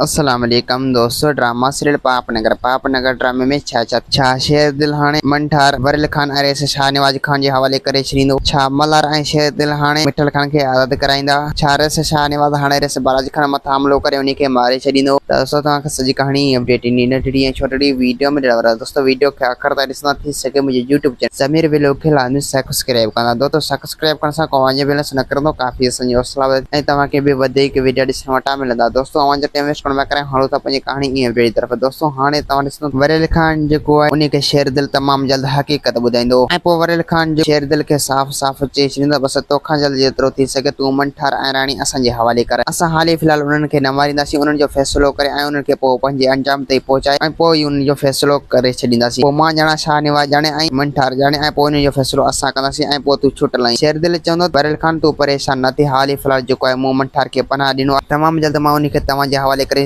السلام عليڪم دوستو ڊراما سيريل پاپ نگر پاپ نگر ڊرامي ۾ ڇا ڇا ٿيو ڇا شير دل هاڻي من ٺار وريل خان اريس شاهنواز خان جي حوالي ڪري ڇڏيندو ڇا ملهار ۽ شير دل هاڻي مٺل خان کي آزاد ڪرائيندا ڇا ريس شاهنواز هاڻي ريس بالاجي خان مٿان حملو ڪري انهي کي ماري ڇڏيندو ته دوستو توهان کي سڄي ڪهاڻي ۽ اپڊيٽ انهي ننڍڙي ۽ ڇوٽڙي ويڊيو ۾ ڏيڻ وارا آهيون دوستو ويڊيو کي آخر تائين ڏسندا ٿي سگهي منهنجي يوٽيوب چينل سمير ويلوڪ کي لاظمي سئڪسڪرائب ڪندا دوستو سڪس سبسڪرائب ڪرڻ سان ڪو اوهان جي بيلنس نه ڪرندو ڪافي اسان جي حوصلا افزائي ۽ توهان کي به وڌيڪ وڊيا ڏسڻ وٽان ملندا دوستو اوهان جو ٽيم ويسٽ ڪرڻ بيڪار آهي هلون ٿا پنهنجي ڪهاڻي ايئن وڊيو جي طرف دوستو هاڻي توهان ڏسندو وريل خان جيڪو آهي انهي کي شير دل تمام جلد حقيقت ٻڌائيندو ۽ پوء وريل خان جيڪو شير دل کي صاف صاف چئي ڇڏيندو بس توکان جلد جيترو ٿي سگهي تون امن ٺار ۽ راڻي اسان جي حوالي ڪر. اسان حال ئي في الحال انهن کي نه مارينداسين، انهن جو فيصلو ڪري ۽ انهن کي پوء پنهنجي انجام تائين پهچائي ۽ پوء ئي انهن جو فيصلو ڪري ڇڏينداسين. پوء مان ڄاڻان، شاهه نواز ڄاڻي ۽ من ٺار ڄاڻي ۽ پوء انهن جو فيصلو اسان ڪنداسين ۽ پوء تون ڇٽ لهين. شير دل چوندو ته بحريل خان تون پريشان نه ٿي، حال ئي في الحال جيڪو آهي مون من ٺار کي پناهه ڏنو آهي. تمام جلد مان انهي کي توهان جي حوالي ڪري